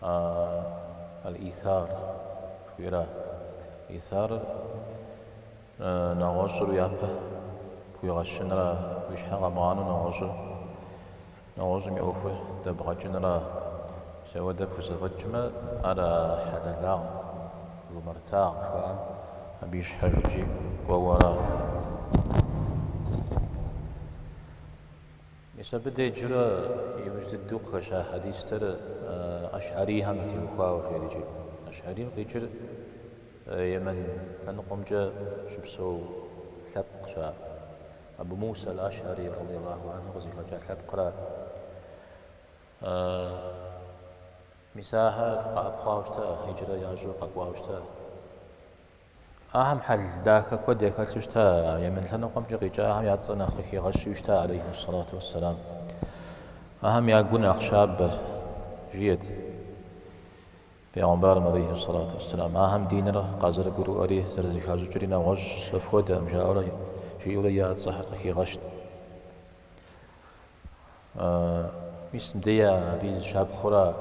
А Аль-Исар жыхуиӏэра. Исарыр нэгъуэщӏыр уи япэ пхуигъэщынра, уи щхьэ къэмыгъанэу нэгъуэщӏыр, нэгъуэщӏым и ӏуэхур дэбгъэкӏынра. Мис апхуэдэ пхузэфӏэкӏмэ, ар а хьэлэлагъэм, жумэртагъэм жыхуаӏэм, абы ищхьэжкӏи кӏуэуэра. Мис абы деджурэ иужь дыдэу къыхэща хьэдистэр Ащхьэрийхэм ятеухуауэ къеджи. Ащхьэрийм къикӏыр Емэн лъэныкъуэмкӏэ щыпсэу лъэпкъщ ар. Абу Муса аль-Ащхьэри, радияллаху анху, къызыхэкӏа лъэпкъра. Мис ахэр къэӏэпхъуауэ щыта, хьиджрэ ящӏу къэкӏуауэ щыта. Ахэм хьэл дахэ куэд яхэлъу щыта, Емэн лъэныкъуэмкӏэ къикӏахэм я цӏэ нэхъ къыхигъэщу щыта, алейхи ссалату уэсселам. Ахэм я гу нэхъ щабэ, жиӏэт Пегъумбарым, алейхи ссалату уэсселам, ахэм диныр къазэрыгурыӏуэри, зэрызыхащӏыкӏри нэгъуэщӏщ, фэ фхуэдэкъым, жаӏэурэ, жиӏэурэ я цӏэхэр къыхигъэщт. Мис мыдея абы и зы щапхъэура,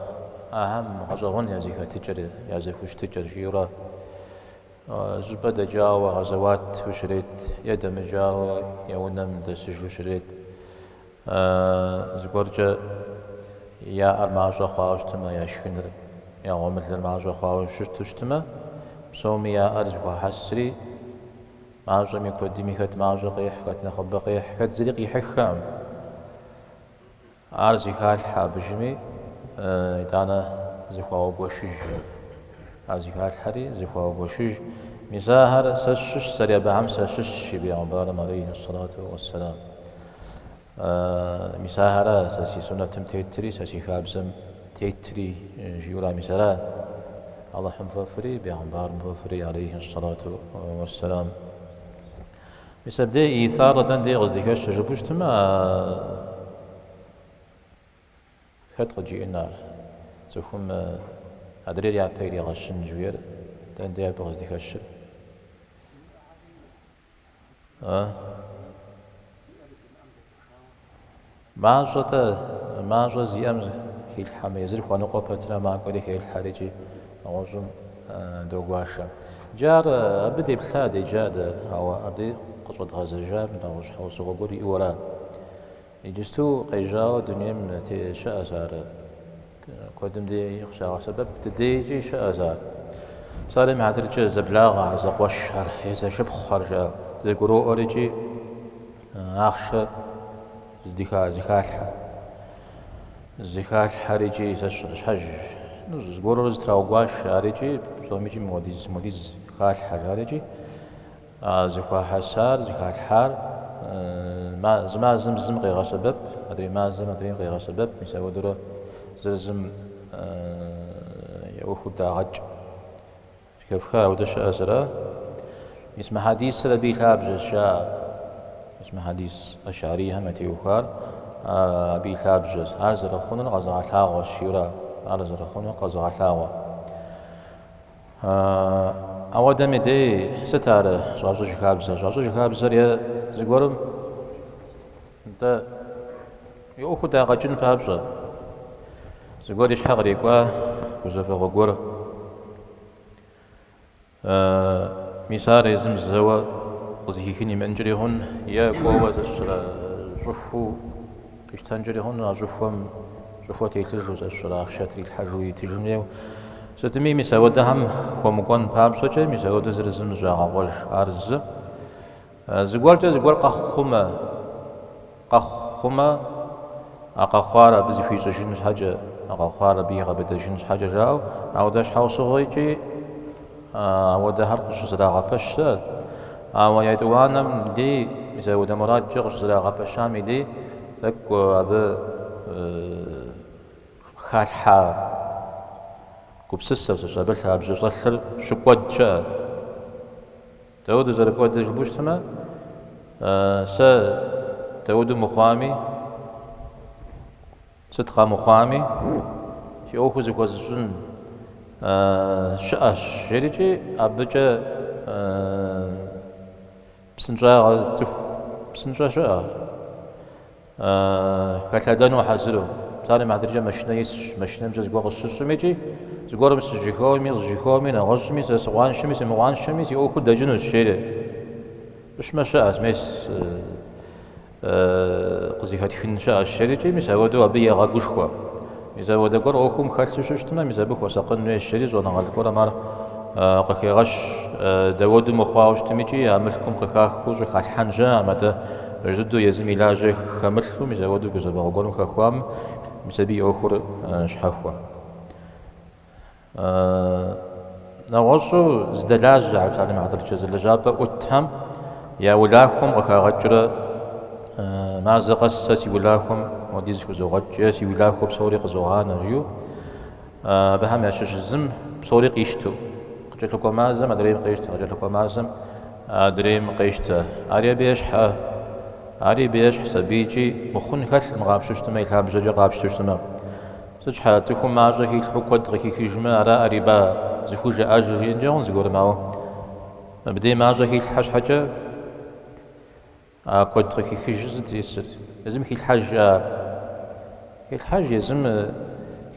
ахэм гъэщӏэгъуэн я зэхэтыкӏэри, я зэхущытыкӏэр, жиӏэурэ зы щӏыпӏэ дэкӏауэ гъэзэуату щрет е дэмыкӏауэ я унэм дэсыжу щрет. Зыгуэркӏэ яӏэр мащӏэ хъуауэ щытмэ, я шхыныр, я гъуэмылэр мащӏэ хъуауэ щыту щытмэ, псоми яӏэр зыхуахьэсри, Мащӏэми куэдми хэт мащӏэ къехь, хэт нэхъыбэ къехь, хэт зыри къихьыххэкъым. Ар зыхалъхьэ абыжми, итӏанэ зыхуаугуэшыж. Ар зыхалъхьэри, зыхуаугуэшыж. Мис ахэр сэ сщыщщ, сэри абыхэм сащыщщ, жи Пегъумбарым алейхьи сэлату уэсселам. Мис ахэра сэ си суннэтым тетри, сэ си хабзэм тетри, жиӏэура, мис ара Алыхьым фӏэфӏри, бегъымбарым фӏэфӏри, алейхи ссалату уэсселам. Мис абдей исар дэн дей къыздихэщыр жыпӏэу щытмэ, хэт къыджиӏэн ар? Цӏыхум адрейр япэ иригъэщын жиӏэр дэн дей абы къыздихэщыр? Мащӏэ-тӏэ, мащӏэ зиӏэм хилъхьэмэ, езыр хуэныкъуэ пэтрэ макӏуэри хелъхьэр икӏи нэгъуэщӏым догуашэ. Иджы ар абы деплъа, деджа дэ, ауэ абы къыщӏэдгъэзэжар нэгъуэщӏ щхьэусыгъуэ гуэр иӏэу ара. Иджысту къежьауэ дунейм щыӏэщ ар. Куэдым дей къыщагъэсэбэп ди дейкӏи щыӏэщ ар. Псалъэм и хьэтыркӏэ зэблагъэхэр, зэкъуэшхэр, е зэшыпхъухэр, жаӏэ. Зэгуроӏуэрикӏи ахъшэ зыхалъхьэ. Зыхалъхьэрикӏи зэщӏэ щхьэж. Ну, зыгуэрурэ зэтраугуашэрикӏи, псомикӏи мыуэдиз, мыуэдиз халъхьэрикӏи. Зыхуахьэсар, зыхалъхьар зы мазэм зым къегъэсэбэп, адрей мазэм адрейм къегъэсэбэп, мис апхуэдэурэ зыр зым я ӏуэхур дагъэкӏ. Хэфха ауэдэ щыӏэщ ар. Мис мы хьэдисыр абы и лъабжьэщ, жаӏэ. Мис мы хьэдис ашарийхэм ятеухуар абы и лъабжьэщ. Ар зэрыхъунур къэзыгъэлъагъуэщ, жиӏэри. Ар зэрыхъунур къэзыгъэлъагъуэ. Ауэдэм и дей сыт ар щӏащӏыж хабзэр? Щӏащӏыж хабзэр е зыгуэрым нтӏэ и ӏуэхур дагъэкӏын папщӏэ, зыгуэр и щхьэ кърикӏуа гузэвэгъуэ гуэр. Мис ар езым зэуэ къызыхихын имыӏэнкӏэри хъун, е кӏуэуэ, сэ сщӏэрэ, щӏыхуу. Къищтэнкӏэри хъун, а щӏыхуэм щӏыхуэ телъыжу, сэ сщӏэрэ ахъшэ трилъхьэжу итыжын хуейуэ. Сытми, мис ауэдэхэм хуэмыкӏуэн папщӏэкӏэ, мис ауэдэ зыр зым зыщӏагъэкъуэж. Ар зы. Зыгуэркӏэ зыгуэр къэхъу хъумэ, къэхъу хъумэ, а къэхъуар абы зыхуищӏыжын щхьэкӏэ, а къэхъуар абы игъэбыдэжын щхьэкӏэ жаӏэу, ауэдэ щхьэусыгъуэкӏи, Ауэдэхэр къыщызэрагъэпэщ щыӏэ. Ауэ етӏуанэм дей мис ауэдэ мурадкӏэ къыщызэрагъэпэщам и дей тӏэкӏу абы халъхьа гупсысэ зыщӏ, абы лъабжьэ щӏэлъыр щыкӏуэд щыӏэ. Дауэду зэрыкӏуэдыр жыпӏэу щытмэ, сэ дауэду мыхъуами, Сыт къэмыхъуами, си ӏуэхур зыхуэзыщӏын щыӏэщ, жиӏэрикӏи абыкӏэ псынщӏагъэ цӏыху псынщӏэ щыӏэ, хэлъэдэну хьэзыру. Псалъэм и хьэтыркӏэ машинэ исщ, машинэмкӏэ зыгуэр къысщыщӏмикӏи, зыгуэрым сыжьэхэуэми, къызжьэхэуэми, нэгъуэщӏми, сэ сыкъуаншэми, сымыкъуаншэми, си ӏуэхур дэкӏынущ, жери. Щӏыщмэ, щыӏэщ, мес. къызыхэтхын щыӏэщ жерикӏи, мис ауэдэу абы егъэгушхуэ. Мис ауэдэ гуэр ӏуэхум хэлъу щыщытмэ, мис абы хуэсакъын хуейщ жыри щӏэныгъэлӏ гуэрэм ар къыхегъэщ. Дауэду мыхъуауэ щытмикӏи а мылъкум къыхахыу щӏыхалъхьэн жаӏэм, атӏэ жыдэу езым и лажьэ хэмылъу, мис ауэдэу гузэвэгъуэ гуэрым хэхуамэ мис абы и ӏуэхур щхьэхуэ. Нэгъуэщӏу зэдэлажьэ псалъэм и хьэтыркӏэ зы лэжьапӏэ ӏутхэм я улахуэм къыхагъэкӏрэ мазэ къэс сэ си улахуэм хуэдиз хызогъэкӏ е си улахуэ псори къызогъанэ жиӏэу абыхэм ящыщ зым псори къищтэу къыкӏэлъыкӏуэ мазэм адрейм къещтэ, къыкӏэлъыкӏуэ мазэм адрейм къещтэ. Ари абы ещхьэ, ари абы ещхьщ, абыкӏи мыхъун хэлъым къапщтэу щытмэ, и лъабжьэкӏэ къапщтэу щытмэ. Сыт щхьэкӏэ, цӏыхум мащӏэ хилъхьу куэд къыхихыжмэ, араӏэ риба зыхужаӏэжыр жиӏэнкӏэ хъун зыгуэрым, ауэ мыбдей мащӏэ хилъхьэ щхьэкӏэ а куэд къыхихыжыр сыт исыр? Езым хилъхьэж, жаӏэ. Хилъхьэж, езым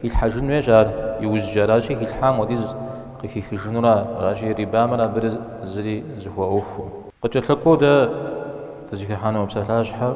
хилъхьэжын хуейщ ар, иужькӏэ аращи, хилъхьам хуэдиз къыхихыжынура, аращи, рибамрэ абырэ зыри зэхуаӏуэхум. Къыкӏэлъыкӏуэу дэ дызыхихьэну псалъащхьэр.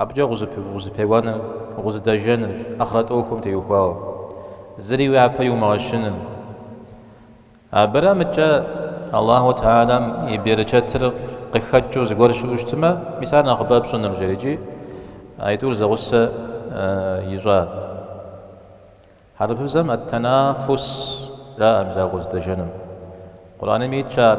Абыкӏэ укъызэпеуэныр, укъызэдэжэныр ахърэт ӏуэхум теухуауэ, зыри уи япэ иумыгъэщыным. Абырэ мыдэкӏэ Аллаху Теалэм и берычэтыр къыхэкӏыу зыгуэр щыӏэу щытмэ, мис ар нэхъыбэ пщӏынырщ жери икӏи аитӏур зэгъусэ ищӏа. Хьэрыпыбзэм ат-танафус жаӏэ мис а укъызэдэжэным. Къурӏэным итщ ар.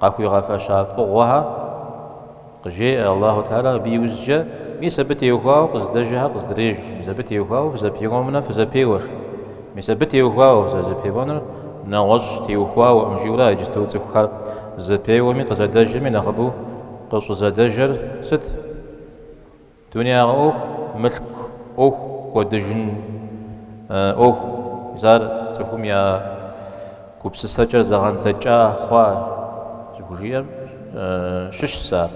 Къахуигъэфэща фӏыгъуэхэр къыжеӏэ Аллаху Теалэм абы иужькӏэ, мис абы теухуауэ къызэдэжэхэр къызэдреж, мис абы теухуауэ фызэпеуэмунэ фызэпеуэ, мис абы теухуауэ фызэрызэпеуэнур нэгъуэщӏ теухуауэкъым, жиӏэурэ а иджытэу цӏыхухэр зэпеуэми къызэдэжэми нэхъыбэу къыщӏызэдэжэр сыт? Дунейгъэ ӏуэху, мылъку ӏуэху, кӏуэдыжын ӏуэхущ, ар цӏыхум я гупсысэкӏэр зэгъэндзэкӏа хъуа зыхужиӏэм щыщщ ар.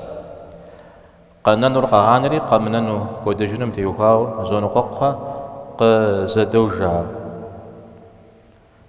Къэнэнур къагъанэри, къэмынэну кӏуэдыжыным теухуауэ зоныкъуэкъухэ къызэдожэхэ.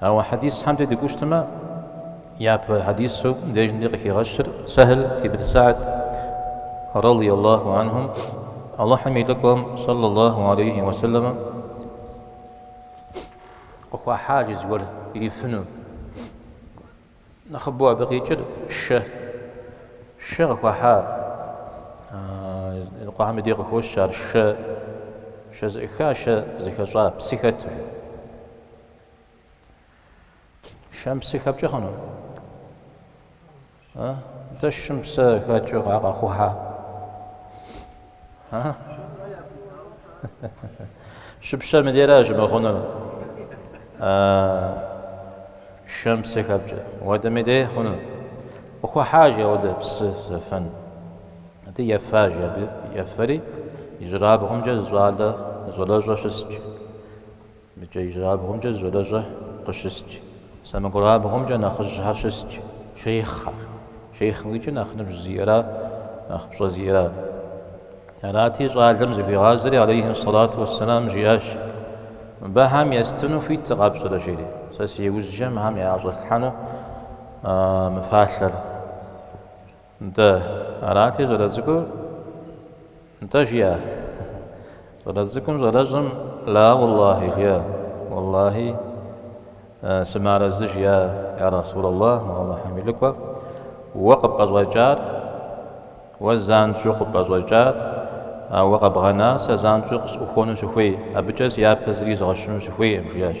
Ауэ хьэдисхэм дей дыкӏуэу щытмэ, япэ хьэдису дежкӏэмкӏэ къыхигъэщыр Сэхьл ибн Сагьд радий Аллаху анхум Аллахьым и Лӏыкӏуэм сэллэ Аллаху алейхи уэ сэлэмэм къыхуахьа жи зыгуэр ирифыну. Нэхъыбэу абы къикӏыр шэ. Шэ къыхуахьа Къуэхьэм и дей къыхощ ар шэ, шэ зэӏыха, шэ зэхэщӏа, псы хэту. Шэм псы хэпкӏэ хъуну? А? Дэ шэм псы хакӏэу къа къыхуахьа? А? Щыпщэм дейра щымыхъунур? А, шэм псы хэпкӏэ. Ауэдэм и дей хъуну? Къыхуахьа жи ауэдэ псы зэфэн. Ди ефа жи абы ефэри, ижьырабгъумкӏэ зы щӏалэ, зы щӏалэщӏэ щыс жи. Мыбыкӏэ ижьырабгъумкӏэ зы щӏалэщӏэ къыщысщ, сэмэгурабгъумкӏэ нэхъыжьхэр щысщ, шейхъхэр. Шейхъым къикӏыр нэхъ ныбжь зиӏэра, нэхъ пщӏэ зиӏэра? Арати, щӏалэм зыхуигъазэри, алейхьи сэлату уэссэлам, жиӏащ, Мыбыхэм естыну хуит сыкъэпщӏрэ, жери, сэ си ужькӏэ мыхэм яӏэщӏэслъхьэну мы фалъэр? Нтӏэ, арати щӏалэцӏыкӏур? Нтӏэ, жиӏэ. Щӏалэцӏыкӏум щӏалэщӏэм Ла уэллахьи жиӏэ, Уэллахьи, сымыарэзы, жиӏэ, Йа Расулаллах, уэ Алыхьым и Лӏыкӏуэ, уэ къыпӏэщӏэкӏар, уэ занщӏэу къыпӏэщӏэкӏар, уэ къэбгъэнар сэ занщӏэу къысӏухуэну сыхуей, абыкӏэ си япэ зыри изгъэщыну сыхуейкъым, жиӏащ.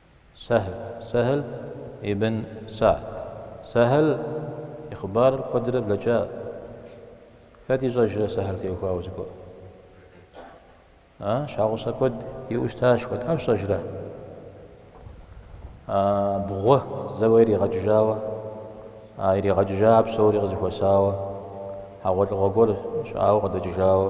Сэхьл, Сэхьл ибн Сагьд. Сэхьл и хъыбарыр куэдрэ блэкӏа. Хэт ищӏэжрэ Сэхьл теухуауэ зыгуэр? А, щхьэгъусэ куэд иӏэу щытащ, хэт, къэпщӏэжрэ? А, бгъуэ зэуэ иригъэкӏыжауэ, а иригъэкӏыжа псори къызэхуэсауэ, хьэгъуэлӏыгъуэ гуэр щӏауэ къыдэкӏыжауэ,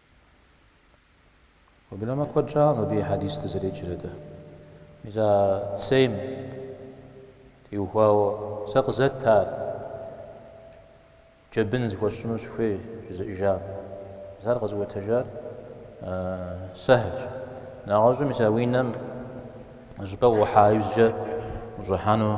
Уеблэмэ куэд щӏакъым абы и хьэдис дызэреджэрэ дэ. Мис а цейм теухуауэ сэ къызэт ар, джэбын зыхуэсщӏыну сыхуей жызыӏэжам. Мис ар къэзыӏуэтэжар Сэхьлщ. Нэгъуэщӏу мис а унэм щӏыпӏэ уӏухьа иужькӏэ ущӏыхьэну.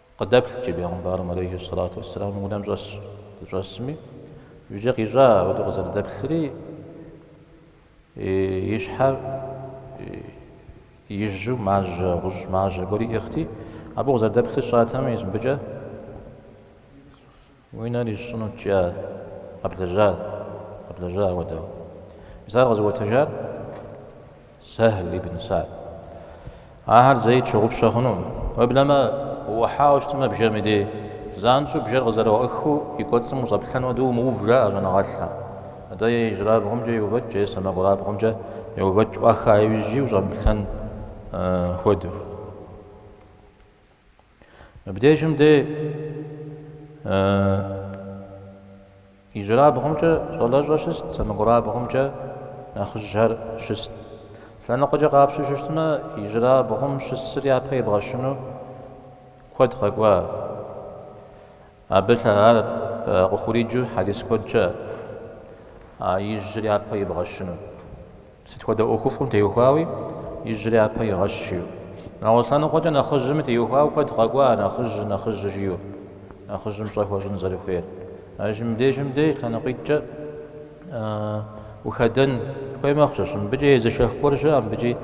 Къыдэплъ, джы бегъымбарым алейхи сэлату уэсселам и унэм щӏэсщ, щӏэсми, иужькӏэ къищӏа, апхуэдэу къызэрыдэплъыр, и щхьэр ижьу мажьэ, гъущӏ мажьэ гуэри иӏыгъти, абы укъызэрыдэплъыр сщӏатэмэ, мис мыбыкӏэ, Уи нэр исщӏынут, жиӏа. Къэблэжьа? Къэблэжьа апхуэдэу? Мис ар къэзыӏуэтэжар Сэхьл ибн Сагьд. Ахэр зэи тщыгъупщэ хъунукъым. Уеблэмэ, уӏухьауэ щытмэ бжэм и дей, занщӏэу бжэр къызэрыӏуахыу и кӏуэцӏым ущӏэплъэн хуэдэу умыув, жаӏэ щӏэныгъэлӏхэм. Атӏэ е ижьырабгъумкӏэ еувэкӏ, е сэмэгурабгъумкӏэ еувэкӏ ӏуаха иужьи ущӏэмыплъэн хуэдэу. Мыбдежым дей ижьырабгъумкӏэ щӏалэщӏэ щыст, сэмэгурабгъумкӏэ нэхъыжьхэр щыст. Лъэныкъуэкӏэ къапщтэу щытмэ, ижьырабгъум щысыр япэ ибгъэщыну куэд къэкӏуа. Абы лъагар къыхуриджу хьэдис куэдкӏэ а ижьыр япэ ибгъэщыну. Сыт хуэдэ ӏуэхуфӏым теухуауи ижьыр япэ игъэщ жиӏэу. Нэгъуэщӏ лъэныкъуэкӏэ нэхъыжьми теухуауэ куэд къэкӏуа нэхъыжь, нэхъыжь жиӏэу, нэхъыжьым пщӏэ хуэщӏын зэрыхуейр. Ажь мыбдеж мыбдеж лъэныкъуитӏкӏэ ухэдэн хуей мэхъущ. Мыбыкӏи езышэх гуэр щыӏэ, мыбыкӏи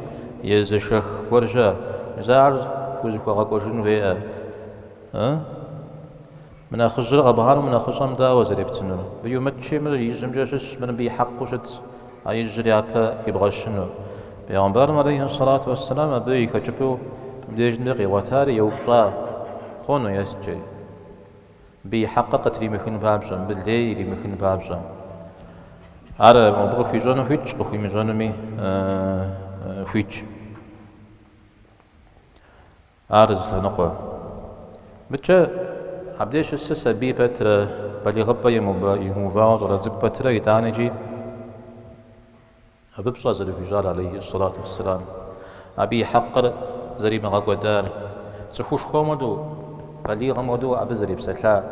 езышэх гуэр щыӏэ. Мис ар фӏыуэ зэхуэгъэкӏуэжын хуейӏэ. Ы? Мы нэхъыжьыр къэбгъанэу мы нэхъыщӏэм дауэ зэрептынур? Мыбы иумыткӏи, мыр ижьымкӏэ щыс, мыр мыбы и хьэкъыу щытщ а ижьыр япэ ибгъэщыну. Пегъымбарым алейхьи сэлату уэсселам абы и хэкӏыпӏэу мыбдеж мыбы къигъуэтар еупщӏа хъуну есткӏэ, мыбы и хьэкъыр къытримыхын папщӏэ, мыбы лей иримыхын папщӏэ. Ар абы къыхуищӏэну хуитщ, къыхуимыщӏэнуми хуитщ. Ар зы лъэныкъуэ. Мыбыкӏэ, абдеж щысыр сабий пэтрэ, балигъыпӏэ имыувауэ щӏалэ цӏыкӏу пэтрэ, итӏаникӏи абы пщӏэ зэрыхуищӏар алейхи сэлату уэсселам, абы и хьэкъыр зэримыгъэкӏуэдар, цӏыхушхуэм хуэдэу, балигъым хуэдэу абы зэрепсэлъар.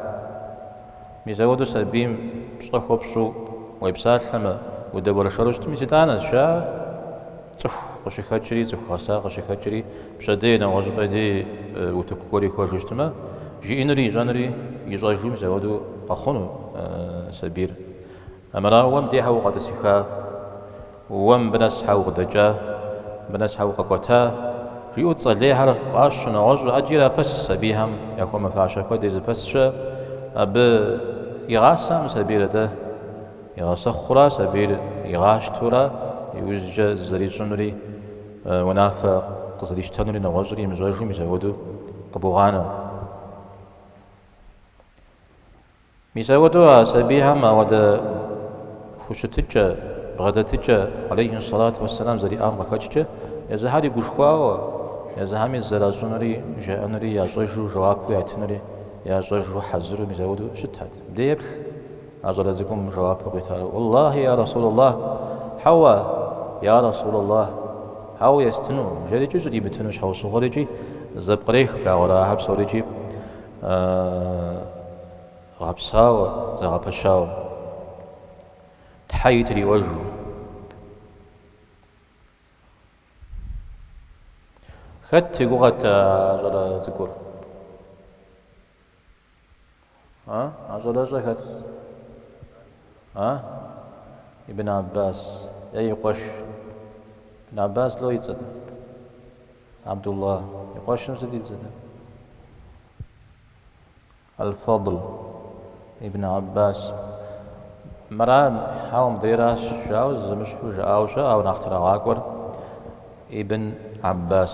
Мис апхуэдэу сабийм пщӏэ хуэпщӏу уепсалъэмэ, удэуэршэру щытмэ, мис итӏанэщ а Цӏыху къыщыхэкӏри, цӏыху гъэса къыщыхэкӏри, пщэдей, нэгъуэщӏыпӏэ дей утыку гуэр ихуэжу щытмэ, жиӏэнури ищӏэнури ищӏэжу мис апхуэдэу къэхъуну сабийр. Армырауэ, уэ мыбдеж хьэ укъэтӏысыха, уэ мыбы нэс хьэ укъыдэкӏа, мыбы нэс хьэ укъэкӏуэта? жиӏэу цӏэ лейхэр фӏащ, нэгъуэщӏу ӏэджи ирапэс сабийхэм, яхуэмыфащэ куэд езыпэс щыӏэ, абы игъасэм сабийр атӏэ. Игъэсэхъур а сабийр игъащтэурэ иужькӏэ зызэрищӏынури унафэ къызэрищтэнури нэгъуэщӏри имыщӏэжу мис апхуэдэу къыбогъанэ. Мис апхуэдэу а сабийхэм ауэдэ хущытыкӏэ, бгъэдэтыкӏэ алейхи ссалату уэсселам зэриӏам къыхэкӏкӏэ езыхьэри гушхуауэ, езыхьэми зызэращӏынури жаӏэнури ящӏэжу жэуапу ятынури ящӏэжу хьэзыру мис апхуэдэу щытат. Деплъ, А щӏалэ цӏыкӏум жэуапу къитар, Уэллахьи, я Расулаллахь! Хьэуэ, я Расулаллахь! Хьэуэ, естыну! Жери икӏи щӏримытыну щхьэусыгъуэр икӏи зэпкърех благъуэрэ ахэр псори икӏи гъэпсауэ, зэгъэпэщауэ. Тхьэи триӏуэжу. Хэт и гугъэт а щӏалэ цӏыкӏур? А? А щӏалэщӏэ хэт? А? Ибн Аббас е и къуэш. Ибн Аббас ло и цӏэт. Абдулла. И къуэшым сыт и цӏэт? Аль-Фадл ибн Аббас. Мыра, хьэуэ, мыбдейращ, жауэ зэмыщхьу жыӏауэ щыӏэ, ауэ нэхъ трагъакӏуэр Ибн Аббас.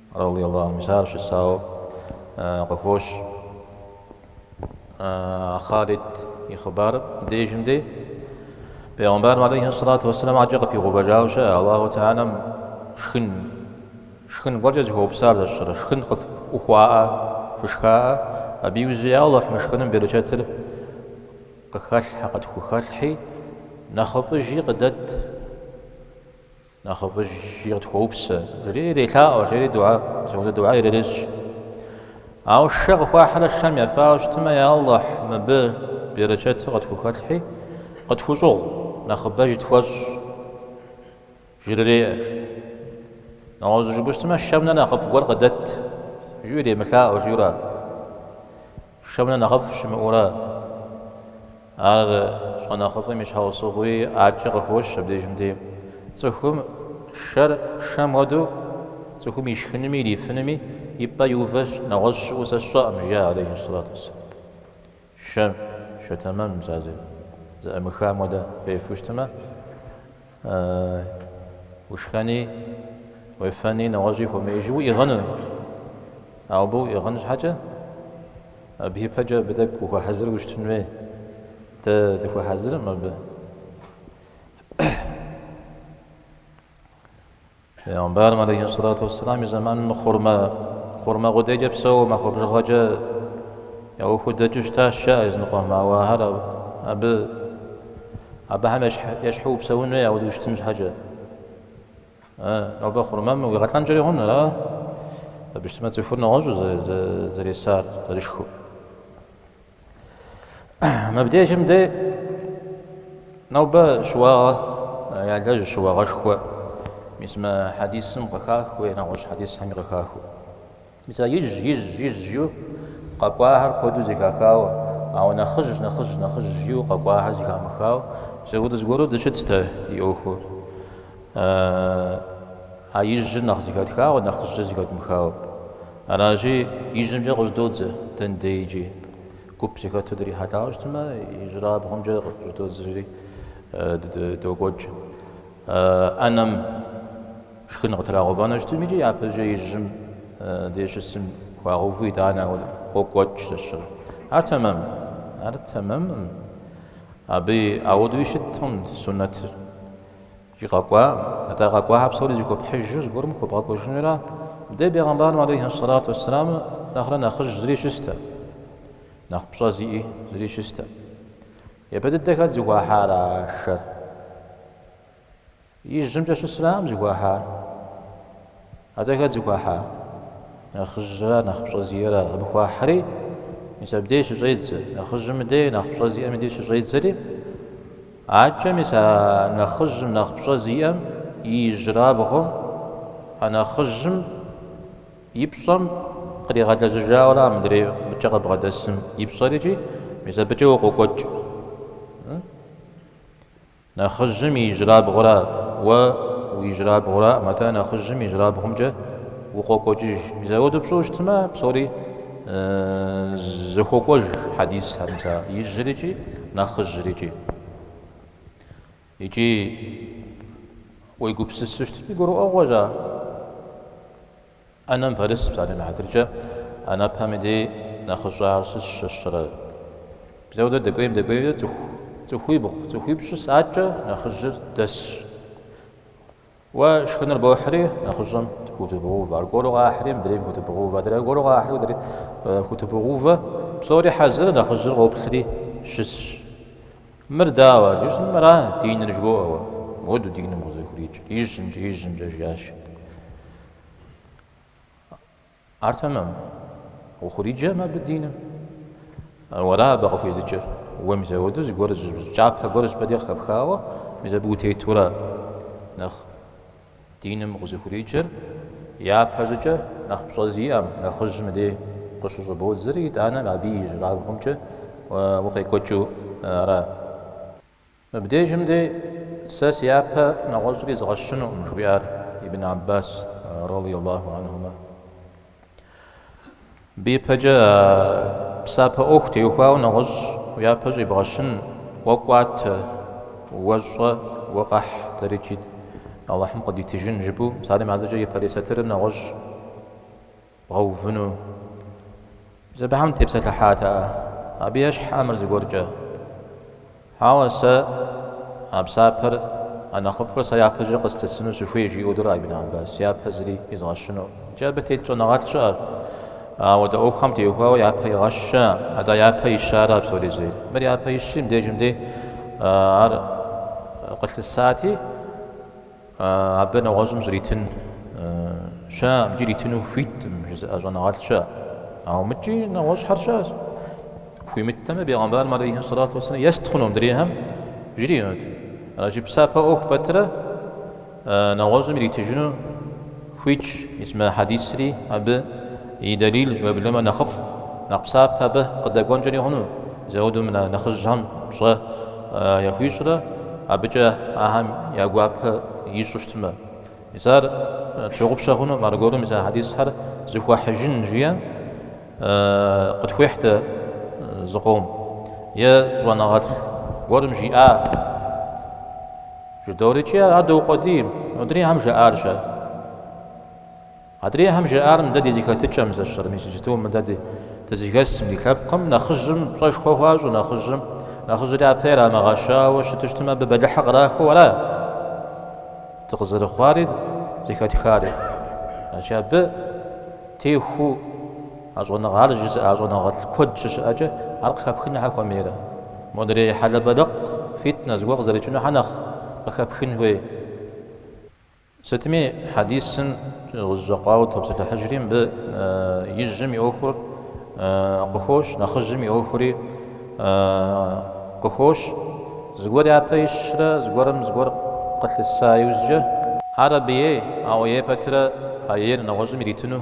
Радий Аллаху анху, мис ар щысауэ къыхощ Халид и хъыбарым дежым дей. Пейгъэмбарым алейхи сэлату уэсэлам ӏакӏэ къыпигъэувэжауэ щыӏэ, Аллаху Тэхьэлэм шхын, шхын гуэркӏэ зыхуэупсар зэщӏырэ, шхын къыфӏыхуаӏэ, фышхаӏэ, абы иужь, я Аллахь, мы шхыным берычэтыр къыхэлъхьэ, къытхухэлъхьи, нэхъыфӏыжи къыдэт. Нэхъыфӏыжи къытхуэупсэ, жери ирелъаӏуэ, жери дугьэ, зэунэ дугьэ ирырещӏ. Ауэ шэ къыхуахьрэ шэм ефауэ щытмэ, я Алыхь, мыбы берэчэтыр къытхухэлъхьи, къытхущӏыгъу, нэхъыбэжи тхуэщӏ, жрыреӏэ. Нэгъуэщӏ жыпӏэу щытмэ, шэм нэ нэхъыфӏ гуэр къыдэт, жи иремылъаӏуэ, жиӏэу ара? Шэм нэ нэхъыфӏ щымыӏэу ара, ар щӏэнэхъыфӏым и щхьэусыгъуи ӏакӏэ къыхощ абдежым дей. Цӏыхум шэр шэм хуэдэу, цӏыхум ишхынуми ирифынуми и пӏэ иувэж нэгъуэщӏ щыӏэу сэ сщӏэкъым, жиӏа алейхиссалату уассалам. Шэ, шэ тэмэм, мис а зэӏымыхьам хуэдэ фефэу щытмэ, Ушхэни, уефэни, нэгъуэщӏи ухуэмеижу уиӏыгъыну. Ауэ абы уиӏыгъын щхьэкӏэ, абы ипэкӏэ абы тӏэкӏу ухуэхьэзыру ущытын хуей. Дэ дыхуэхьэзыркъым абы. Пэйгъэмбарым алейхиссалату уассалам и зэманым хъурмэ, хъурмэ къудейкӏэ псэууэ махуэ бжыгъэкӏэ яхудэкӏыу щытащ, жаӏэ языныкъуэм, ауэ ахэр абы, абыхэм ещхьу упсэун хуей ауэдэу ущытын щхьэкӏэ. Э, нобэ хъурмэм уигъэлӏэнкӏэри хъун, ара? Абы щытмэ цӏыхур нэгъуэщӏу зэресар, зэрышхыу. Мыбдежым дэ нобэ щыуагъэ ялэжь щыуагъэшхуэ мис мы хьэдисым къыхахыу е нэгъуэщӏ хьэдисхэми къыхахыу. Мис а ижь ижь ижь жиу къэкӏуахэр куэду зэхахауэ, ауэ нэхъыжь нэхъыжь нэхъыжь жиу къэкӏуахэр зэхамыхауэ, зэудыз гуэру дыщытт дэ ди ӏуэхур. А ижьыр нэхъ зэхэтхауэ, нэхъыжьыр зэхэдмыхауэ. Аращи, ижьымкӏэ къыщӏыдодзэ дэн дей икӏи. Гуп зыхэту дрихьэлӏауэ щытмэ, ижьырабгъумкӏэ къыщӏыдодзэри докӏуэкӏ. ӏэнэм шхын къытрагъэувэну щытми икӏи, япэкӏэ ижьым дей щысым хуагъэуву итӏанэ ауэ къокӏуэкӏ щыщыр. Ар тэмэм. Ар тэмэмкъым. Абы ауэдуи щыткъым суннэтыр. Жи къэкӏуа, атӏэ къэкӏуахэр псори зэхуэпхьыжу зыгуэрым хуэбгъэкӏуэжынура? Мыдэ бегъымбарым алейхьи сэлату уэсселам нэхърэ нэхъыжь зыри щыстэ, нэхъ пщӏэ зиӏи зыри щыстэ. Япэ дыдэ хэт зыхуахьар а шэр? Ижьымкӏэ щысыракъым зыхуахьар. Атӏэ хэт зыхуахьар, нэхъыжьрэ нэхъ пщӏэ зиӏэрэ абы хуахьри, мис абдей щыщӏедзэ. Нэхъыжьым дей, нэхъ пщӏэ зиӏэми дей щыщӏедзэри, акӏэ мис а нэхъыжьым, нэхъ пщӏэ зиӏэм и ижьырабгъум, а нэхъыжьым и пщӏэм къригъэлэжьыжауэрэ а мыдрей абыкӏэ къыбгъэдэсым и пщӏэр икӏи мис абыкӏэ укъокӏуэкӏ. Нэхъыжьым и ижьрабгъура уэ уи ижьрабгъураӏым, атӏэ нэхъыжьым ижьрабгъумкӏэ укъокӏуэкӏыж. Мис ауэду пщӏыу щытмэ, псори зэхуокӏуэж хьэдисхэр, мис а ижьыр икӏи нэхъыжьыр икӏи. Икӏи уегупсысу щытми, гурыӏуэгъуэщ ар. ӏэнэм пэрыс псалъэм и хьэтыркӏэ, ӏэнэпэми дей нэхъыщӏэр ар щысщ, щысрэ, мис ауэдэ дэкӏуейм дэкӏуейкӏэ цӏыху, цӏыхуибгъу, цӏыхуипщӏ щысщ, акӏэ нэхъыжьыр дэсщ. Уэ шхыныр бохьри, нэхъыщӏэм хутыбогъэувэ, аргуэру къахьри, мыдрейм хутыбогъэувэ, адрей аргуэру къахьри, уэдри хутыбогъэувэ, псори хьэзыр, нэхъыжьыр къоплъри щысщ. Мыр дауэ, жыщӏым мыра диныр жыбоӏэ уэ? Мыуду диным къызыхуриджэр ижьымкӏэ, ижьымкӏэ, жиӏащ. Ар тэмэмкъым, ухуриджэкъым абы диным, уэра абы къыхуезыджэр, уэ мис апхуэдэу зыгуэр, кӏапэ гуэр зыщӏыпӏэ дей къыхэпхауэ, мис абы утетурэ нэхъ Диным къызыхуриджэр япэщӏыкӏэ нэхъ пщӏэ зиӏэм, нэхъыжьым дей къыщыщӏыбодзэри, итӏанэ абы и ижьырабгъумкӏэ укъекӏуэкӏыу ара? Мыбдежым дей сэ си япэ нэгъуэщӏри изгъэщынукъым, жыхуиӏар Ибн Аббас, радийаллаху анхумэ. Мыбы ипэкӏэ а псапэ ӏуэху теухуауэ нэгъуэщӏ уяпэ щӏибгъэщын, уэ кӏуатэ, уэ щӏэ, уэ къэхь, дэри икӏи Алыхьым къыдитыжын, жыпӏэу псалъэм адэкӏэ япэрей сатырым нэгъуэщӏ бгъэувыну. Зэбэхэм тепсэлъыхьат а абы ещхьэ мыр зыгуэркӏэ. Ауэ сэ а псапэр, а нэхъыфӏыр сэ япэкӏэ къыслъысыну сыхуей, жиӏэу дурэ Ибн Аббас. Япэ зыри изгъэщыну. Икӏи абы тет щӏэныгъэлӏ щыӏэщ. Ауэдэ ӏуэхухэм теухуауэ япэ игъэщэ, атӏэ япэ ищэ ара псори зейр. Мыр япэ ищри, мыбдежым дей ар къылъысати. Абы нэгъуэщӏым щӏритын щыӏэкъым, икӏи ритыну хуиткъым жызыӏэ щӏэныгъэлӏ щыӏэщ. Ауэ мыкӏи нэгъуэщӏхэр щыӏэщ. Хуимыттэмэ, бегъэмбарым алейхи сэлату уэсэлам ест хъуну мыдрейхэм жриӏэнут. Аращи, псапэ ӏуэху пэтрэ нэгъуэщӏым иритыжыну. Хуитщ, мис мы хьэдисри абы и дэлил уеблэмэ нэхъыфӏ, нэхъ псапэ абы къыдэкӏуэнкӏэри хъуну, зэуду нэхъыжьхэм пщӏэ яхуищӏрэ абыкӏэ ахэм я гуапэ ищӏу щытмэ. Мис ар тщыгъупщэ хъунукъым, аргуэру мис а хьэдисхэр зыхуэхьыжын жиӏэ къытхуихьт зыкъом е щӏэныгъэлӏ гуэрым жиӏа. Жыдоӏэри икӏи ар доукъуэдий, модрейхэм жаӏар-щэ? Адрейхэм жаӏар мыдэ ди зэхэтыкӏэм зэщӏыр, мис иджытэу мыдэ дэ дызыхэсым, ди лъэпкъым нэхъыжьым пщӏэшхуэ хуащӏу, нэхъыжьым, нэхъыжьыр япэ ирамыгъэщауэ щыту щытмэ, абы бэлыхьыр кърахэу ара дыкъызэрыхъуари, зэхэтхари. Аращи абы техуу. А щӏэныгъэр жысӏа щӏэныгъэлӏ куэд щыщыӏэкӏэ ар къыхэпхын нэхьэ хуэмейрэ? Модрей хьэлэбэлыкъ фитнэ зыгуэр къызэрыкӏыну хьэ нэхъ къыхэпхын хуей? Сытми, хьэдисым зыщӏигъэкъуауэ топсэлъыхьыжри, мыбы ижьым и ӏуэхур къыхощ, нэхъыжьым и ӏуэхури къыхощ, зыгуэр япэ ищрэ зыгуэрым зыгуэр къылъыса иужькӏэ. Ар абы ей, ауэ ей пэтрэ а ейр нэгъуэщӏым иритыну?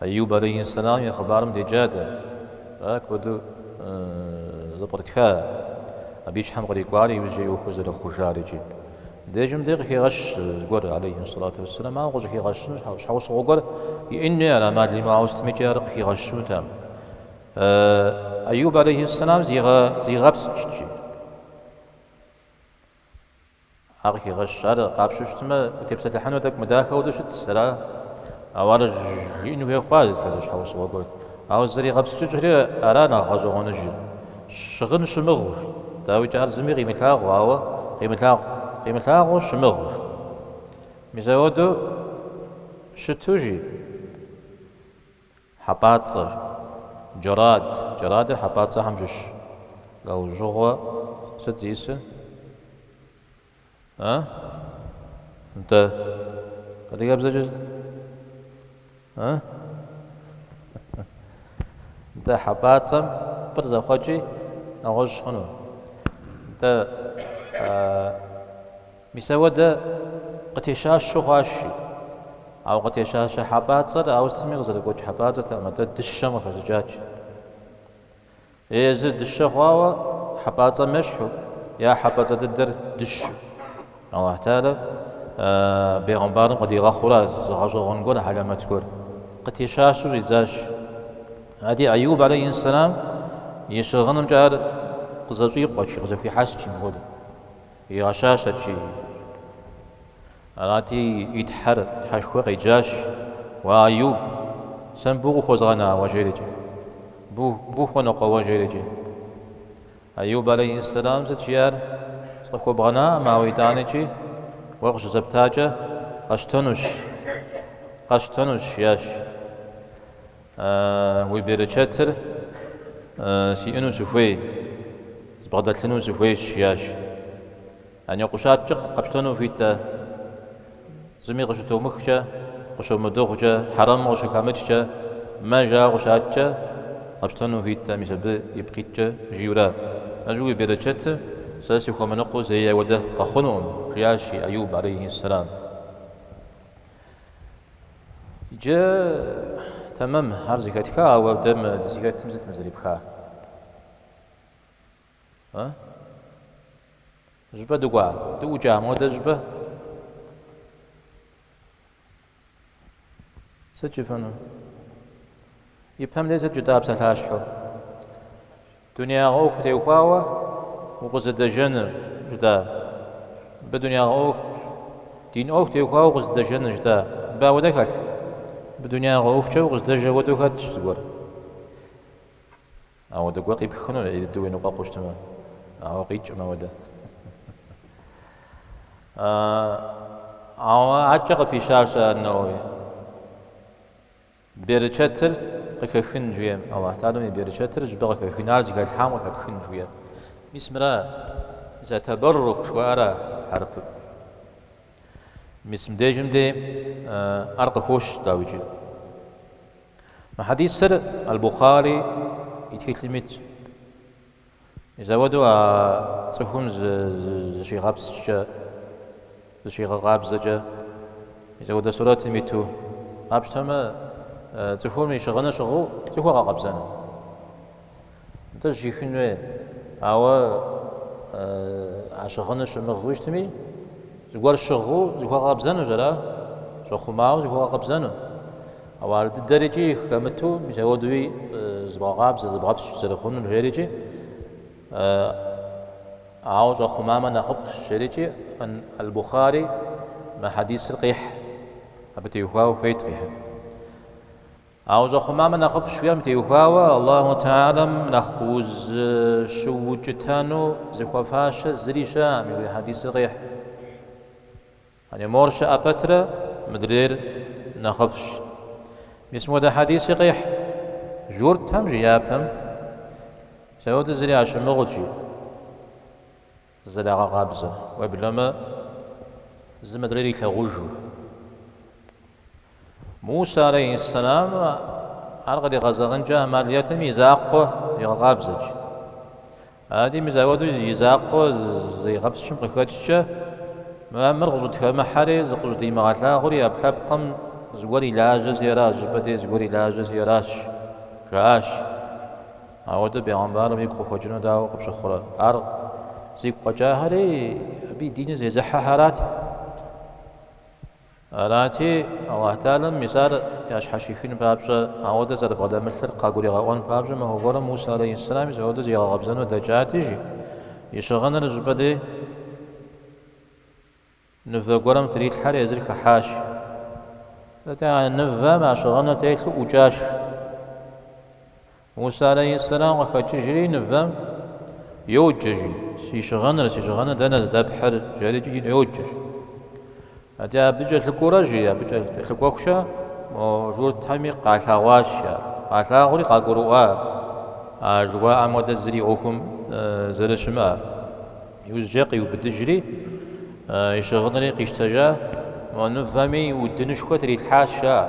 Айюб алейхиссалам и хъыбарым деджа дэ, ара куэду зэпкърытха, абы и щхьэм кърикӏуари иужькӏэ и ӏуэху зэрыхъужари икӏи. Дежым дэ къыхигъэщщ зыгуэр, алейхиссалату уассалам, ауэ къыщӏыхигъэщыну щхьэусыгъуэ гуэр иӏэн хуей ара ӏэмал имыӏэу ауэ сытмикӏи ар къыхигъэщынутэкъым. Айюб алейхиссалам зигъэпскӏщ икӏи. Ар къыхигъэщщ, ар къапщтэу щытмэ, утепсэлъыхьынур тӏэкӏу мыдахэ хуэдэу щыт, слӏо? Ауэ ар жиӏэну хуей хъуащ, слӏо, щхьэусыгъуэ гуэрт? Ауэ зэригъэпскӏыкӏэри, ара нэхъ гъэщӏэгъуэныжыр? Щыгъын щымыгъыу, дауикӏ, ар зыми къимылъагъу, ауэ къимылъагъу, къимылъагъуу щымыгъыу. Мис апхуэдэу щыту жи? Хьэпӏацӏэр, джэрад, джэрадыр хьэпӏацӏэхэм щыщщ. Лӏэужьыгъуэ сыт зисыр? Э? Нтӏэ, адыгэбзэкӏэ сыт? Э? Нтӏэ, хьэпӏацӏэм пӏыр зэхъуэкӏи нэгъуэщӏ хъуну? Нтӏэ, Мис ауэдэ къытещащу хъуащи. Ауэ къытещащэ хьэпӏацӏэр ауэ сытми къызэрыгуэкӏ хьэпӏацӏэртэкъым, атӏэ дыщэм къыхэщӏыкӏащ. Е езыр дыщэ хъуауэ хьэпӏацӏэм ещхьу, е хьэпӏацӏэ дыдэр дыщу. Аллахь Тэхьала бегъымбарым къыдигъэхъура зы гъэщӏэгъуэн гуэр, хьэлэмэт гуэр. Къытещащу щӏидзащ. Ади Аюб алейхьи сэлам и щыгъынымкӏэ ар къызэщӏикъуэщ, къызэхуихьэсщ мыпхуэдэу. Игъэщащэщи. Арати, и тхьэр тхьэшхуэ къеджащ, Уа, Аюб, сэ мыбы укъыхуэзгъэна уэ иджырикӏи? Мыбы ухуэныкъуэ уэ иджырикӏи? Аюб алейхьэссэлам сыт жиӏар? Сыкъыхуэбгъэнакъым, ауэ итӏанэкӏи уэ къыщызэптакӏэ къэщтэнущ, къэщтэнущ, жиӏащ. Уи берычэтыр сиӏэну сыхуей, збгъэдэлъыну сыхуейщ, жиӏащ. Ана, къущаткӏэ къэпщтэну хуит-тӏэ? Зыми къыщытомыхкӏэ, къыщомыдыгъукӏэ, хьэрэм къыщыхэмыкӏкӏэ, мэ жауэ къущаткӏэ, къэпщтэну хуит-тӏэ, мис абы ипкъ иткӏэ жиӏэура? Ажы, уи берычэтыр сэ сыхуэмыныкъуэу зэи ауэдэ къэхъунукъым, жиӏащ Айуб алейхьи-сэлам. Иджы тэмэм ар зэхэтха, ауэ дэ мы дызыхэтым сыт мы зэрепха? А? Щӏыпӏэ дыкӏуа? Дыӏукӏа модэ щӏыпӏэ? Сыт жыфӏэну? Ипэм дей сыт жытӏа псалъащхьэу? Дунеягъэ ӏуэху теухуауэ укъызэдэжэныр жытӏа? Мыбы дунеягъэ ӏуэху, дин ӏуэху теухуауэ укъызэдэжэныр жытӏа? Мыбы ауэдэ хэлъ? Мыбы дунеягъэ ӏуэхукӏэ укъызэдэжэ хуэдэу хэтщ зыгуэр. Ауэдэ гуэр къипхыну дыдэу уеныкъуэкъуу щытмэ, ауэ къикӏкъым ауэдэ. Ауэ адэкӏэ къыпищащ ан-Нэуэуи. Берычэтыр къыхэхын жиӏэм, Аллахь Тэхьалам и берычэтыр щӏыпӏэ къыхэхын, ар зыхалъхьам къыхэпхын жиӏэм. Мис мыра? Езы табэррук жыхуаӏэра хьэрыпым? Мис мыбдежым де ар къыхощ, дауикӏи. Мы хьэдисыр Аль-Бухъари и тхылъым итщ. Мисауэду а цӏыхум зыщигъэпскӏкӏэ, зыщигъэкъабзэкӏэ, мисауэдэ сурэтым иту къапщтэмэ, цӏыхум и щыгъыныр щыгъыу зыхуэгъэкъэбзэну. Нтӏэ зыщихын хуей, ауэ а щыгъыныр щымыгъыу щытми, зыгуэр щыгъыу зыхуэгъэкъэбзэнущ, ара, щӏэхъумауэ зыхуэгъэкъэбзэну. Ауэ ар дыдэр икӏи хэмыту мисауэдуи зыбгъэкъабзэ, зыбгъэпскӏ зэрыхъунур жерикӏи, ауэ щӏэхъумамэ нэхъыфӏщ жерикӏи, ан Аль-Бухари мы хьэдисыр къихь, абы теухуауэ хуейт къихьын. Ауэ щӏэхъумамэ нэхъыфӏщ жиӏэм теухуауэ Аллаху Тэхьэлам нэхъ узыщыукӏытэну зыхуэфащэ зыри щыӏэкъым, жиӏэ хьэдисыр къихь. Мор щыӏэ пэтрэ мыдрейр нэхъыфӏщ. Мис мыуэдэ хьэдиси къехь, Журтхэм, жи, япэм мисауэду зыри ящымыгъыут, жи зэрагъэкъабзэ, уеблэмэ зы мыдрейр илъагъужу. Мусэ алейхьэссэлам ар къригъэзэгъынкӏэ ӏэмал иӏэтэкъым и закъуэ зигъэкъабзэт. Ади мисауэду и закъуэ зэрызигъэпскӏым къыхэкӏкӏэ, мо мыр къыщӏытхэмыхьэри, зыкъыщӏыдимыгъэлъагъури ӏэпкълъэпкъым зыгуэр и лажьэщи ара, щӏыпӏэ дей зыгуэр и лажьэщи аращ, жаӏащ. Ауэдэ бегъымбарым игу къыхуэкӏыну дауэ къыпщыхъурэ? Ар зигу къэкӏахэри абы и диныр зезыхьэхэрат. Арати, Алыхь Тэхьэлам мис ар ящхьэщихын папщӏэ, ауэдэ зэрыбгъэдэмылъыр къагуригъэӏуэн папщӏэ махуэ гуэрым Мусэ алейхьэссэлам мисауэдэ зигъэкъэбзэну дэкӏати, жи. И щыгъыныр щӏыпӏэ дей нывэ гуэрым трилъхьэри езыр хыхьащ. Атӏэ, а нывэм а щыгъыныр телъу ӏукӏащ. Мусэ алейхьэссэлам къыхэкӏыжри нывэм йоджэ, жи, Си щыгъыныр, си щыгъыныр дэнэ здэпхьыр? жери икӏи йоджэ, жи. Атӏэ абы кӏэлъыкӏуэрэ, жи, абы кӏэлъыкӏуэхукӏэ мо журтхэми къалъагъуащ ар. Къалъагъури къагурыӏуа ар жыхуаӏэм хуэдэ зыри ӏуэхум зэрыщымыӏэр. Иужькӏэ къиубыдыжри, и щыгъынри къищтэжа, мо нывэми удынышхуэ трилъхьащ ар.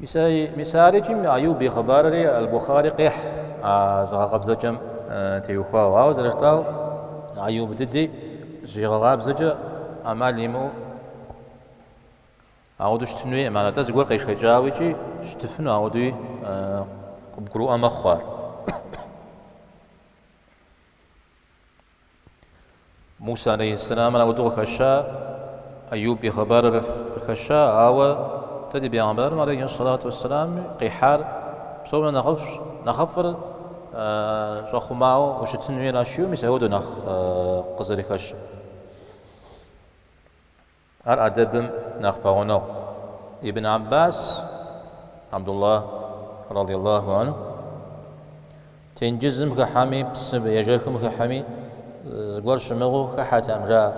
Мис ар икӏи Айюб и хъыбарри Аль-Бухари къихь а зыгъэкъэбзэкӏэм теухуауэ. Ауэ зэрыжытӏау, Айюб дыди зыщигъэкъабзэкӏэ ӏэмал имыӏэу ауэдэу щытын хуейкъым. Атӏэ зыгуэр къешэкӏауэ икӏи щытыфыну ауэдэуи къыбгурыӏуэ мэхъу ар. Мусэ алейхьэссэламыр ауэдэу къыхэща, Аюб и хъыбарыр къыхэща, ауэ дэ ди бегъэмбарым алейхьэссалату уэссэламми къихьар псом нэхърэ нэхъыфӏыр щӏэхъумауэ ущытын хуейращи, мис ауэдэу нэхъ къызэрыхэщыр. Ар адэбым нэхъ пэгъунэгъу. Ибн Аббас, Абдулла, радийаллаху анху, тенджызым хыхьэми, псы ежэхым хыхьэми зыгуэр щымыгъыу хыхьэтэкъым, жаӏэ,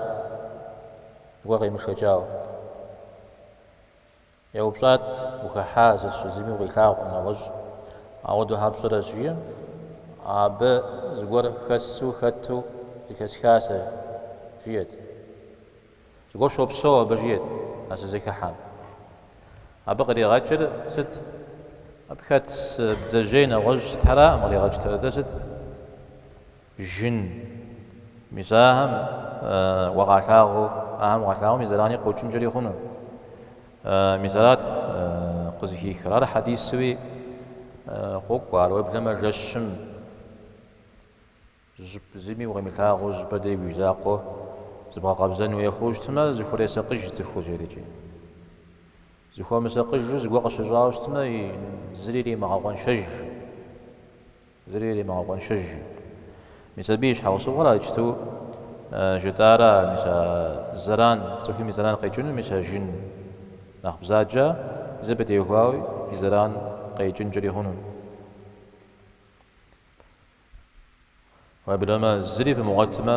зыгуэр къемышэкӏауэ. Еупщӏат, Ухыхьа зысщӏ зыми укъилъагъукъым нэгъуэщӏ, ауэдэу хьэ пщӏэрэ, жи. Абы зыгуэр хэсу хэту зэхэсха сэ, жиӏэт. Зыгуэр щопсэу абы, жиӏэт а сызыхыхьэм. Абы къригъэкӏыр сыт? Абы хэт бдзэжьей нэгъуэщӏ сытхэракъым къригъэкӏтэр. Атӏэ сыт? жын, мис ахэм уэ укъалъагъуу, ахэм укъалъагъум и зэрани къокӏынкӏэри хъуну, мис арат къызыхихыр. Ар хьэдисуи къокӏуэ, ар уеблэмэ жэщым жьып зыми укъимылъагъуу зыщӏыпӏэ дей уи закъуэ зыбгъэкъэбзэн хуей хъуу щытмэ, зыхуресакъыж цӏыхур жедэкӏи. Зыхуэмысакъыжу зыгуэр къыщыщӏауэ щытмэ, зыри иримыгъэкъуэншэж. Зыри иримыгъэкъуэншэж. Мис абы и щхьэусыгъуэр ар иджыпсту жытӏара, мис а зэран, цӏыхум и зэран къекӏыну, мис а жын нэхъ бзаджэ, зы пытехуауи и зэран къекӏынкӏэри хъуну. Уеблэмэ, зыри фымыгъуэтмэ.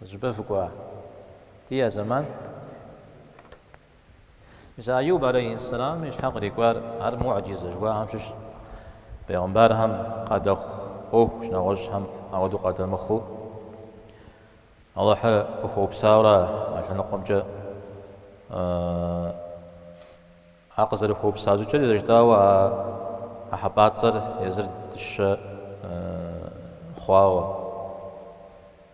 Зыщӏыпӏэ фыкӏуа? Ди я зэман? Мис Айуб алейхьэссэлам и щхьэ кърикӏуар ар муӏэджизэ жыхуаӏэм щыщщ. Пэйгъымбархэм къадэхъу ӏуэхущ, нэгъуэщӏхэм ауэдэу къадэмыхъуу, Алыхьыр къыхуэупсауэра а лъэныкъуэмкӏэ? А къызэрыхуэупса щӏыкӏэри зэрыжытӏауэ а хьэпӏацӏэр езыр дыщэ хъуауэ.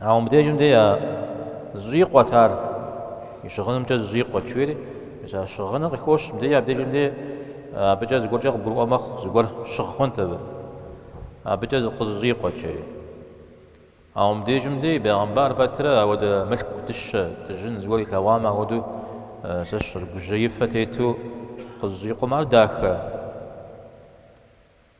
Ауэ мыбдежым де зыщӏикъуэт ар, и щыгъынымкӏэ зыщӏикъуэт, жиӏэри, мис а щыгъыныр къыхощ, мыбдеж абдежым де абыкӏэ зыгуэркӏэ къыбгурыӏуэ мэхъу, зыгуэр щыгъ хъунт абы, абыкӏэ къызыщӏикъуэт, жери. Ауэ мыбдежым де бегъымбар пэтрэ ауэдэ мылъку дыщэ, дыжьын зыгуэр илъэгъуамэ, ахуэдэу сэ сщӏэрэ, гужьеифэ тету къызыщӏикъум, ар дахэ.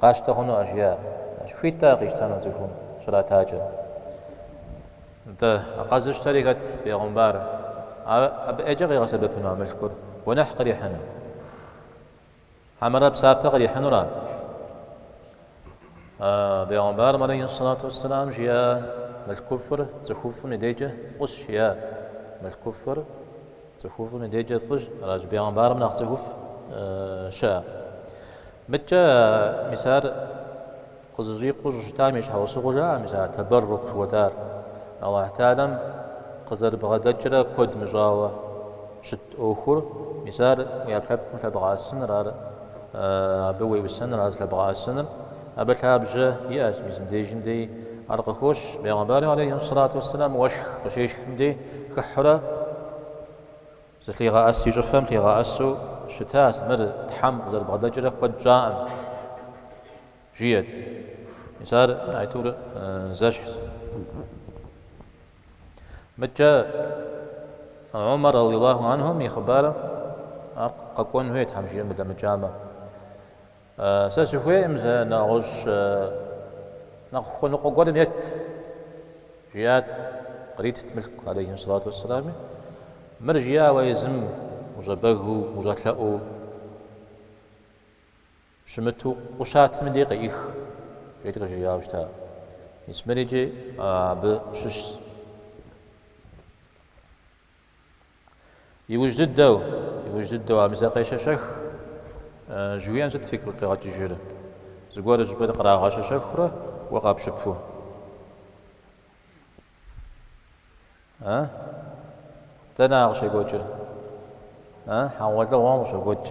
Къащтэ хъуну ар жиӏэ. Ащ хуит ар къищтэну а цӏыхум щратакӏэ. Нтӏэ, а къэзыщтэри хэт, бегъымбар? Ар абы ӏейкӏэ къигъэсэбэпыну а мылъкур? Гуэныхь кърихьыну? Хьэмэрэ псапэ кърихьынура? А бегъымбарым алейхьиссалату уэсселам жиӏа мылъкуфӏыр цӏыхуфӏым и дейкӏэ фӏыщ жиӏа мылъкуфӏыр? Цӏыхуфӏым и дежкӏэ фӏыщ, аращ, бегъымбарым нэхъ цӏыхуфӏ щыӏэ. Мыдкӏэ мис ар къызыщӏикъуу щыщытам и щхьэусыгъуэ жаӏэ мис а тэбэррук жыхуэтӏар, Алыхь Тэхьэлам къызэрыбгъэдэкӏрэ куэд мыщӏауэ щыт ӏуэхур, мис ар уи ӏэпкълъэпкъым лъэбгъэӏэсыныр, ар абы уеӏусэныр, ар зылъэбгъэӏэсыныр. Абы лъабжьэ иӏэщ Муслим дежым деи. Ар къыхощ, бегъымбарым алейхьи сэлату уэсселам уэшх къыщешхым деи, хыхьурэ зылъигъэӏэс и щӏыфэм лъигъэӏэсу щытащ, мыр Тхьэм къызэрыбгъэдэкӏрэ куэд щӏаӏым, жиӏэт. Мис ар аитӏур зэщхьщ. Мыдкӏэ Умар радиаллаху анхум и хъыбарым ар къэкӏуэн хуейт Тхьэм жиӏэм дылъэмыкӏамэ. Сэ сыхуейкъым сэ нэгъуэщӏ нэхъ хуэныкъуэ гуэрым ет, жиӏат, къритт мылъку алейхьи салату уэсселами, мыр жиӏауэ езым ущӏэбэгыу, ущӏэлъэӏуу щымыту къущатым и дей къеӏых, жери къыжриӏауэ щыта. Мис мыр икӏи абы щыщщ. Иужь дыдэу, иужь дыдэу, а мызэ къещэщэх жыхуиӏэм сыт фигу къигъэкӏыжыр? Зыгуэр щыӏэ кърагъэщэщэхурэ уэ къэпщыпу? А? Дэнэ къыщекӏуэкӏыр? А? Хьэгъуэлӏыгъуэм къыщокӏуэкӏ.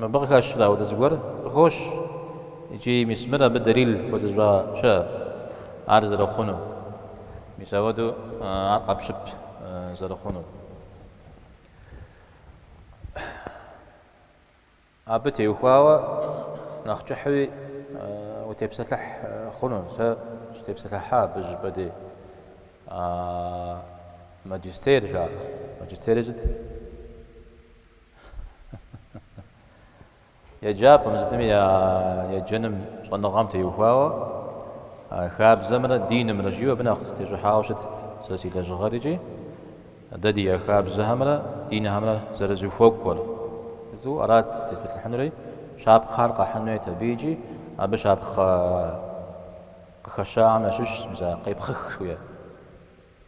Мыбы къыхэщрэ ауэдэ зыгуэр? Къыхощ. Икӏи, мис, мыр абы дэлил хуэзыщӏа щыӏэщ ар зэрыхъунум? Мис ауэду ар къэпщып зэрыхъунур. Абы теухуауэ нэхъ кӏыхьуи утепсэлъыхь хъуну? Сыщытепсэлъыхьа абы щӏыпӏэ дей. Маджистер жаӏэ. Маджистерри сыт? Еджапӏэм сытми я еджэным щӏэныгъэм теухуауэ хабзэмрэ динымрэ жиӏэу абы нэхъ тещӏыхьауэ щытт сэ си лэжьыгъэр икӏи дэ ди я хабзэхэмрэ динхэмрэ зэрызэхуэкӏуэр. Сыту арат сытепсэлъыхьынури, щапхъэхэр къэхьын хуейт абы икӏи абы щапхъэ къыхэщахэм ящыщщ мис а къепхъых жиӏэр.